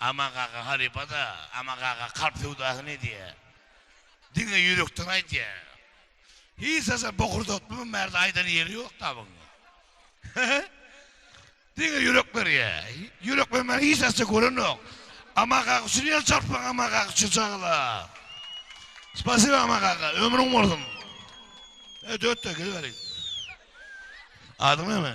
Aman kaka halypada, Aman kaka kalp söwdasyny edýä. Diňe ýürekden aýdýa. Hiç zada bokurdatmy bu merde aýdan ýeri ýok da buň. Diňe ýürek berýä. Ýürek bermän hiç narsa görenok. Aman kaka üçin ýer çarpyň Aman kaka üçin çagala. Spasiba Aman kaka ömrüň bolsun. E dört de gel beri. Adyň näme?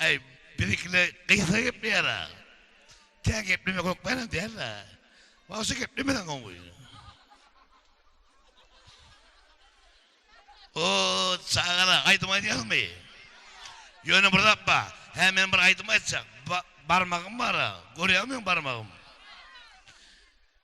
Äý, bizikiler gysga gepleýär-ä. Tä geplemek hökmänam däl-ä. Wagşy geplemeseň gowy. O, çagalar, aýdym aýdýaňyzmy? Ýöne bir zat bar. Hä, men bir aýdym aýtjak. Barmagym bar-a. Görýäňmi meň barmagym?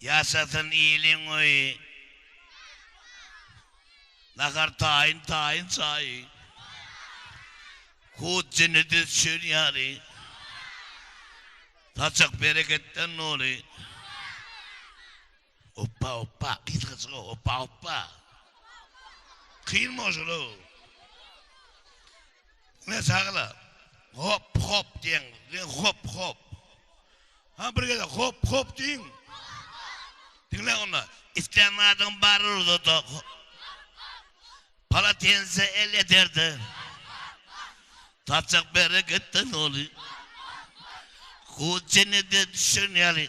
Ýaşasyn iliň öýi. Nahar taýyn taýyn çaýy. Hut jini düz şül ýaly. Saçak bereketden doly. Oppa oppa gyz gyzga oppa oppa. Kyn boşulu. Ne sagla. Hop hop diýen. Hop hop. Ha bir gezek hop hop diýiň. Diňle onda. Islän zadyň bary ruzada. Palatense el eterde. Tapjak bereketden oly. Hut jennete düşen ýaly.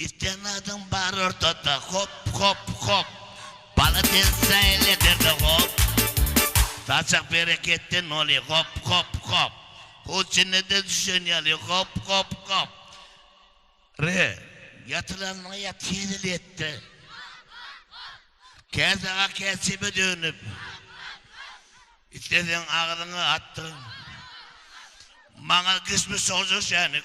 Istenadyň bar ortada hop hop hop Bala sen saýyl eterde hop Saçak bereketden oly hop hop hop Hut jennede düşen ýaly hop hop hop Re, ýatylanyňa ýat hezil etde Käsaga käçebe dönüp Isleseň agzyňa atdyr Maňa kişmiş şowja şänik.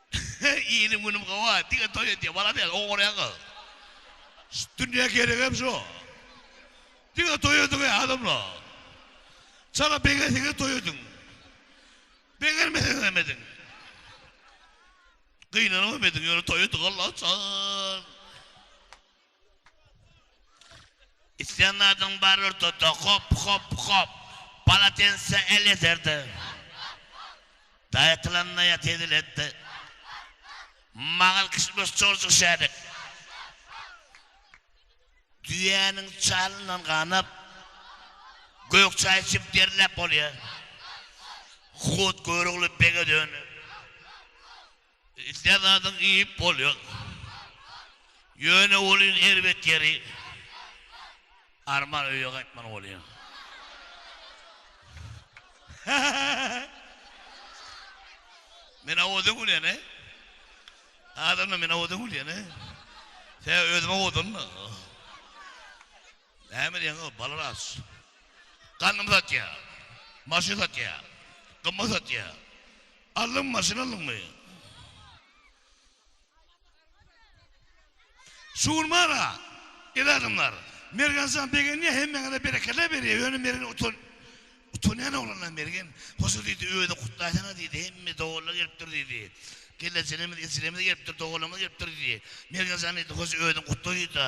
Inim günüm gowy diňe toý edýä malades ogurýan gyz. Şu dünýä geregem şu. Diňe toý ediňä adamlar. Çala begenseňiz toý ediň. Begenmeseňiz hem ediň. Gynanyp hem ediň ýöne toý ediň Alla üçin. Isleýän zadyň bar ortada, hop, hop, hop. Palatense el ýeterdi. Daýatylanda ýat eziletdi. Magal kişmiş çorjik şärik. Düýäniň çalyndan ganap, gök çaý içip derläp bolýar. Hut Görogly bege dönüp. Islän zadyňy iýip bolýar. Ýöne welin erbet ýeri arman öýe gaýtman bolýar. Men awaza gülýän-ä. Adamlar men awaza gülýän-ä. Sebäbi özüm awazdandyryn. Näme diýýäň o balaras. Ganymy satýa. Maşyn satýa. Gymmat satýa. Aldyňmy maşyn aldyňmy. Şugunmana. El adamlar. Mergenjan begenýä hemmeňize berekella berýä ýöne mergen utan utanýan oglanlar mergen hoşa diýdi özi gutlaýsaňyz diýdi hemme doganlar gelipdir diýdi gelnejelerimiz ejelerimiz gelipdir doganlarymyz gelipdir diýdi mergenjan diýdi hoşa özüň gutla diýdi.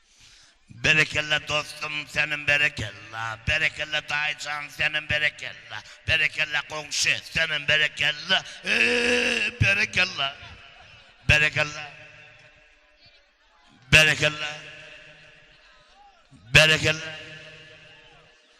Berekella dostum senem berekella berekella daýyjan senem berekella berekella goňşy senem berekella eeee berekella berekella berekella berekella.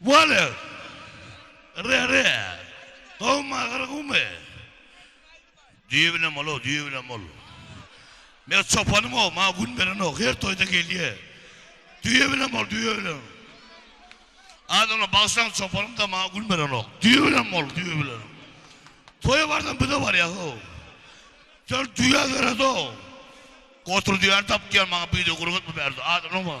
Wale! Re-re! Dogma gyrgumy? Düýe bilen bol-ow, düýe bilen bol. Men çopanym-ow, maňa gün berenok, her toýda gelýä. Düýe bilen bol, düýe bilen. Adamlar bagşylaň çopanym-da, maňa gün berenok. Düýe bilen bol, düýe bilen. Toýa bardan biz-de barýas-ow. Sen düýä döret-ow. Gotur düýäni tap diýýän maňa, bir-de gurgatma bärde, adamlar bar.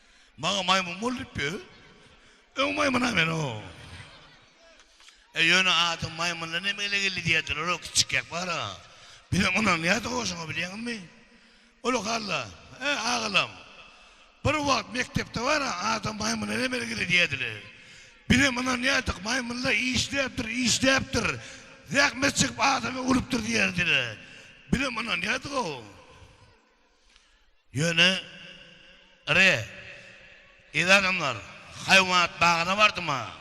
Maňa maýmyn bol diýipdi özi. Öň maýmyna men o. E ýöne adyň maýmyndan hem ele geldi diýýärdiler o kiçikek bar-a. Bizem ynanýardyk o şoňa bilýäňmi? Ol halla, e agalam. Bir wagt mekdepde bar-a adam maýmyndan hem ele geldi diýýärdiler. Bizem ynanýardyk maýmynlar işläpdir, işläpdir. Zähmet çekip adamy urupdyr diýýärdiler. Bizem ynanýardyk o. Ýöne, Re, eziz adamlar, haýwanat bagyna bardym-a.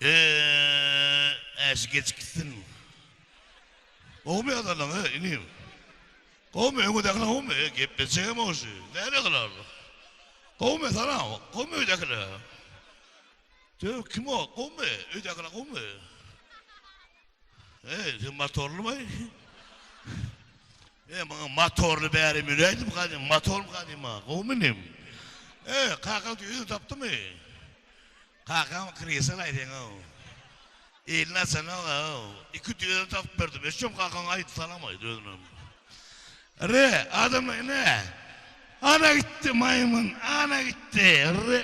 Ö-äşi geçip gitsin. Gowumy ýagdaýlaň, e, inim? Gowumy, öňüdäkiler gowumy? E, gepleşjegem-ow şu. Nädekiler? Gowumy, salam. Gowumy öýdäkiler? Döw kim o? Gowmy? Öýdäkiler gowmy? Eý, sen motorly baý. Eý, maňa motorly bäri müräýdim gadym, motorly gadym ha, gowmy inim? Eý, kaka özüni tapdymy? Kakam kresel aýdyň-ow. Eline salag aw. Iki düýe tapyp berdim. Eşşem kakaň aýt salam aýt özünem. Re, adamlar ine. Ana gitdi maýmyn, ana gitdi. Re.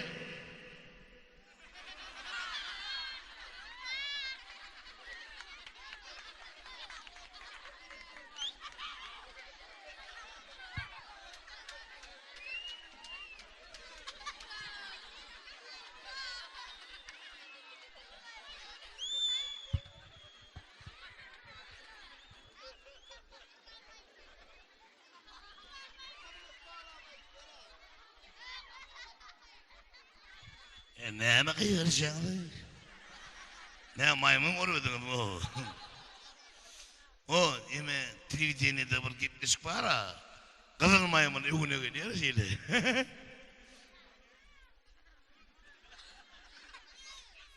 E, näme gygyrjaňyz? Nä maýmyn görüpdiňiz bu? O, eme, telewidenede bir gepleşik bar-a. Gyzyl maýmyn öwüne gelýär şeýle.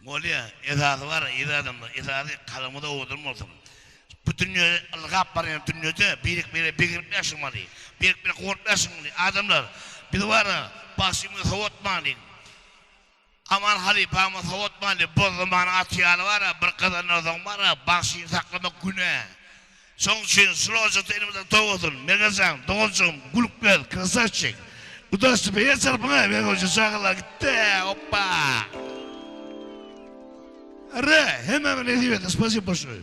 Bolýa, esasy bar ir adamda, esasy kalbyňyz owadan bolsun. Bu dünýe ylgap barýan dünýede birek-birege begenip ýaşamaly, birek-birege gorkup ýaşamaly. Adamlar, biz bara bagşymyzy sowatmalyň. Aman halypamyz sowatmandy, Bozdumanyň aty ýaly bar-a, bir gazanardygyň bar-a, bagşyny saklamak günä. Şoň üçin şul ojakda elimizden toý bolsun. Mergenjan, doganjygym, Gulukberdi, krasawçik! Udaçny beýer çarpyň-a, Mergenjan çagalar gitdi, oppa! Arre, hemmäňe nesip etsin, spasibo bolşuny!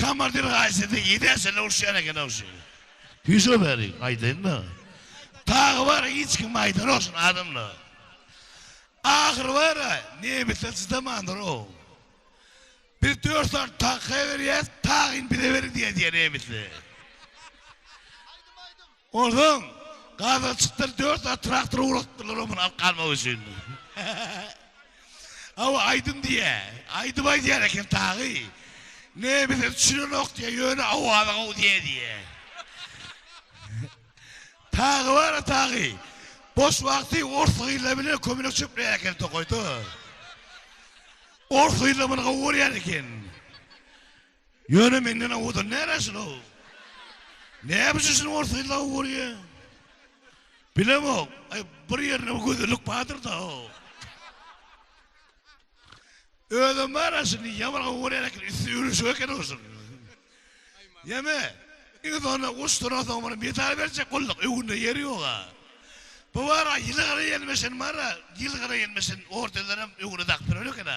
Komandir gaýsydy idesine urşýan eken ogşy. Hüýşe beriň aýdaýynda. Tagy bar hiç kim aýdanokşuny adamla. Ahyry bara nebise çydamandyr o. Biz dört sany tagy berýäs tagyny bize beriň diýýär diýýär nebisli. Onsoň gaza çykdylar, dört zat traktora ugrukdylar o muny alyp galmak üçin. Hawa, aýdym diýýä. Aýdym aýdýar eken taýy. Ne, bize düşünenok diýýä, ýöne awazy gowy diýýä diýýä. Taýy bar-a taýy. Boş wagty ors gyzlar bilen kömelek çöpleýär eken tokaýda. Ors gyzlar muny gowy görýär eken. Ýöne menden owadan näreşin-ow? Näbiçi şuny ors gyzlaw görýä? Bilemok. Aý, bir ýerinde gözellik bardyr-da-ow. Özem bar-a şuny ýaman gowy görýän eken, üsti ýüwrüşik eken-ow şuny. Ýeme, iň soňunda guşduran soň muny medal berjek bolduk, öňünde ýeri ýok-a. Bu bar-a ýylgyra ýelmeşen bar-a, ýylgyra ýelmeşen ordenlerem öňüne dakyp ýören eken-a.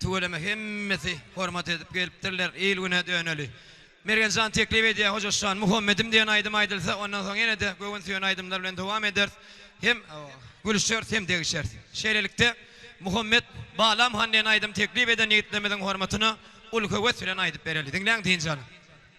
Tüweleme hemmesi hormat edip gelipdirler, il-güne döneli. Mergenjan teklip edýär, Hojaşjan, Muhammedim diýen aýdym aýdylsa, ondan soň ýene-de göwün süýen aýdymlar bilen dowam ederis. Hem gülüşeris, hem degişeris. Şeýlelikde, Muhammet, Balam han diýen aýdym teklip eden ýigitlerimiziň hormatyna uly höwes bilen aýdyp bereli. Diňläň, dynç alyň.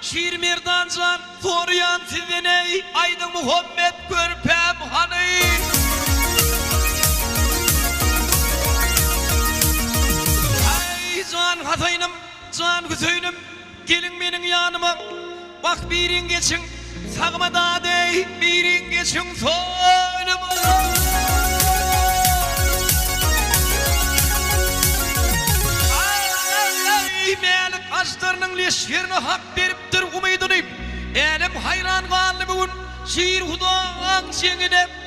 Şirmerdan jan soryan sizden eý aýdyň Muhammet körpäm hany. Äý jan Hasaýnym jan Hüseýnim geliň meniň ýanyma wah biriň geçiň. Sagma dadeý biriň geçiň soýluma. Aý Mälik aždarynyň leşgerine hak beripdir umydyny. Älem haýran galdy bu gün şir hudaň jeňine.